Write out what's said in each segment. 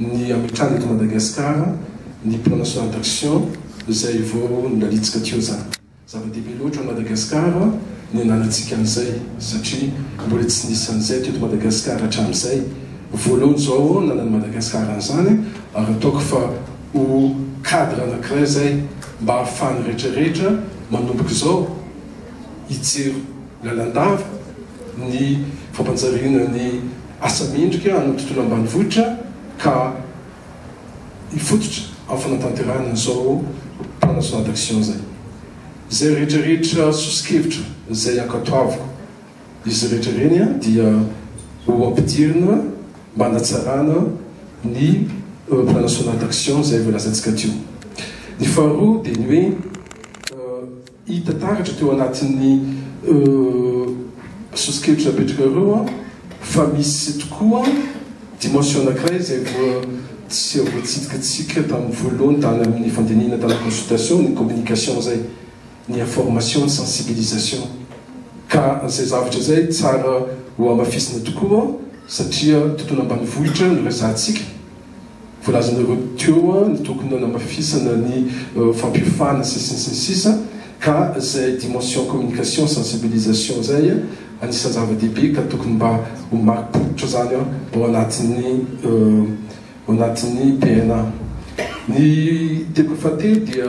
ny hametrahana eto Madagasikara ny plan national d'action izay vao nanitsika teo izany. Zava-dehibe loatra amin'i Madagasikara ny ananantsika an'izay satria mbola tsy nisy an'izay teto Madagasikara hatramin'izay. Voalohany izao ananan'i Madagasikara an'izany ary ataoko fa ho cadre anankiray izay mba ahafahan'ny rehetra rehetra manomboka izao hijery lalandava ny fampanjariana ny asa mendrika any amin'ny tontolo ambanivohitra ka hifototra amin'ny fanatanterahana izao plan national d'action izay. Izay rehetra rehetra soso-kevitra izay ankatoaviko izy rehetra ireny dia ho ampidirina mba hanatsarana ny plan national d'action izay voalazantsika teo. Ny faharoa dia ny hoe. Hita taratra teo anatin'ny sosokevitra apetraka ireo fa misy tokoa dimension anankiray izay tsy voatsidikatsika tamin'ny voalohany tany amin'ny fandinihana tamin'ny consultation, ny communication izay, ny information, ny sensibilisation. Ka izay zavatra izay tsara hohamafisina tokoa satria tontolo ambanivohitra no resahantsika. voalazanareo teo ny tokony hanamafisana ny fampiofana sy ny sisa ny sisa ka zay dimension communication sensibilisation zay anisan'ny zava-dehibe ka tokony mba ho marim-pototra zany ao anatin'ny ao anatin'ny PNA ny teboka fahatelo dia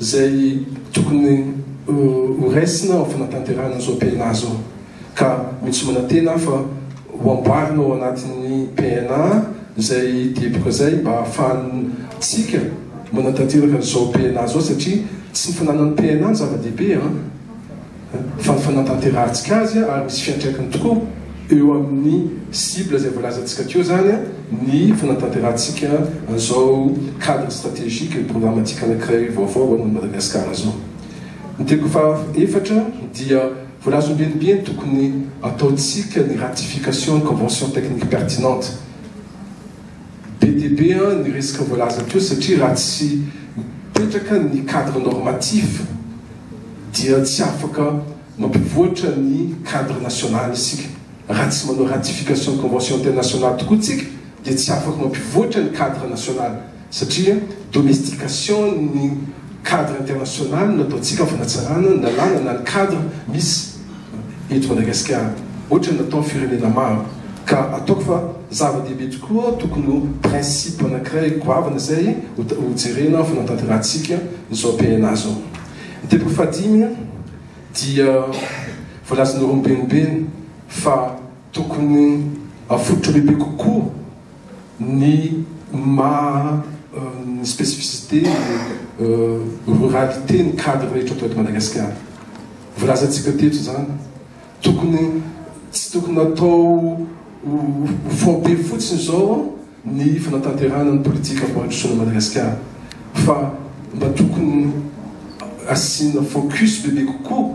izay tokony ho raisina ao amin'ny fanatanterahana izao PNA izao ka mino sy manantena aho fa ho amboarina ao anatin'ny PNA izay teboka izay mba ahafahantsika manatanteraka izao PNA izao satria tsy ny fananan'ny PNA no zava-dehibe an! fa ny fanatanterahantsika azy ary misy fiantraikany tokoa eo amin'ny cible izay voalazantsika teo izany ny fanatanterahantsika an'izao cadre stratégique et programmatique anankiray vaovao ho an'i Madagasikara izao. Ny teko fahaefatra dia voalaza ombienibe ny tokony ataontsika ny ratification ny convention technique pertinente. Be dia be ny resaka voalaza teo satria raha tsy mipetraka ny cadre normatif dia tsy afaka mampivoatra ny cadre national isika. Raha tsy manao ratification ny convention internationale tokoa tsika dia tsy afaka mampivoatra ny cadre national satria domestication ny cadre international no ataontsika fanatsarana ny lalàna na ny cadre misy. eto Madagasikara ohatran'ny nataon'ny firenena maro ka ataoko fa zava-dehibe tokoa tokony ho principe anankiray goavana izay ho jerena ny fanatanterahantsika izao PNA izao. Ny teboka fahadimy dia voalazan'ireo mibenimbeny fa tokony afototra bebe kokoa ny maha ny spécificité ruralité ny cadre rehetra atao eto Madagasikara. Volazantsika teto izany, tokony tsy tokony atao ho faobe fotsiny izao ny fanatanterahana ny politika fampandrosoana Madagasikara fa mba tokony asiana focus bebe kokoa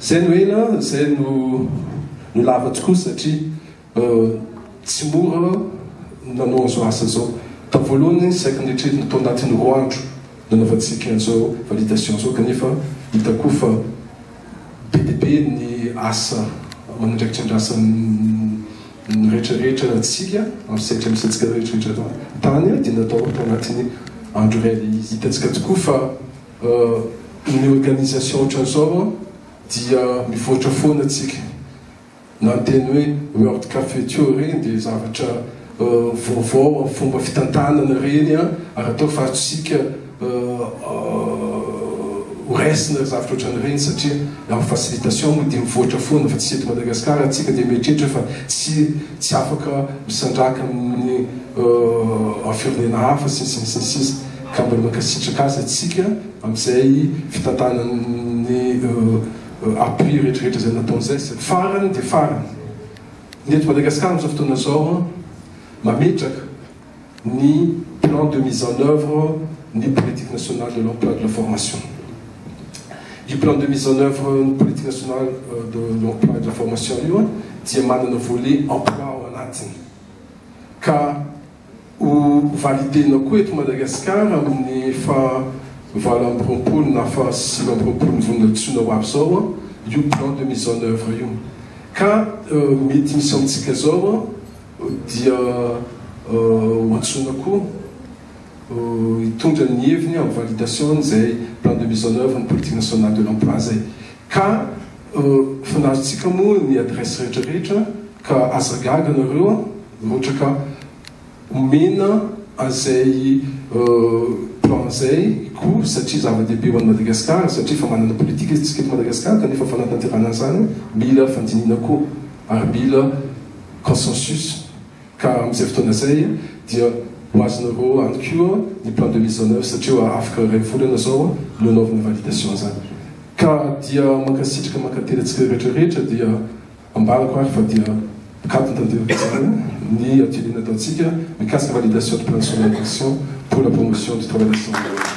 Zay no ela a, zay no no lava tokoa satria tsy mora nanao an'izao asa izao. Tamin'ny voalohany saika noetrerina tao anatin'ny roa andro nanaovantsika an'izao validation izao kanefa hita koa fa be dia be ny asa aman'andraikitra andrasan'ny rehetrarehetra antsika amin'ny sehatra misy antsika rehetrarehetra tany dia natao tao anatin'ny andro iray dia hitantsika tokoa fa Ny organisation ohatran'izao dia mivoatra foana tsika na ny teny hoe world cafeture reny dia zavatra vaovao amin'ny fomba fitantanana reny ary atao faritrisika ho raisina zavatra ohatran'ireny satria amin'ny facilitation moa dia mivoatra foana fa tsy eto Madagascar tsika dia mieritreritra fa tsy tsy afaka misandraka amin'ny firenena hafa sy ny sisa sy ny sisa Ka mbola mankasitraka azy atsika amzay fitantanany appui retraretra zay nataony zay satry farany de farany ny eto Madagascar amzao fotoana zao mametraka ny plan de mise en oeuvre ny politique nationale de l'emploi et de la formation io plan de mise en oeuvre ny politique nationale de l'emploi et de la formation io dia manana volet emploi ao anatiny ka Ho valider-na koa eto Madagasikara amin'ny faha valo amby roapolo na faha sivy amby roapolon'ny vondron-tsoina ho avy izao io plan de mise en œuvre io. Ka mety misy amintsika izao dia ho antsoina koa hitondra ny heviny amin'ny validation-n'izay plan de mise en œuvre ny politique nationale de l'emploi izay. Ka fanarintsika moa ny adresse rehetra rehetra ka aza gaga nareo a! Rotraka omena an'izay plan zay ko satria zava-dehibe ho an'i Madagasikara satria efa manana politika isika eto Madagasikara kanefa fanatanterana an'izany mila fandinihina koa ary mila consensus. Ka amin'izay fotoana izay dia ho azonareo any koa ny plan de mise en oeuvre satria afaka iray volana izao no anaovana validation izany. Ka dia mankasitraka mankately antsika rehetra rehetra dia ambarako ary fa dia mikatona tanteraka izany ny atelier nataontsika mikasika validation du plan national d'action pour la promotion du travail des sans-abris.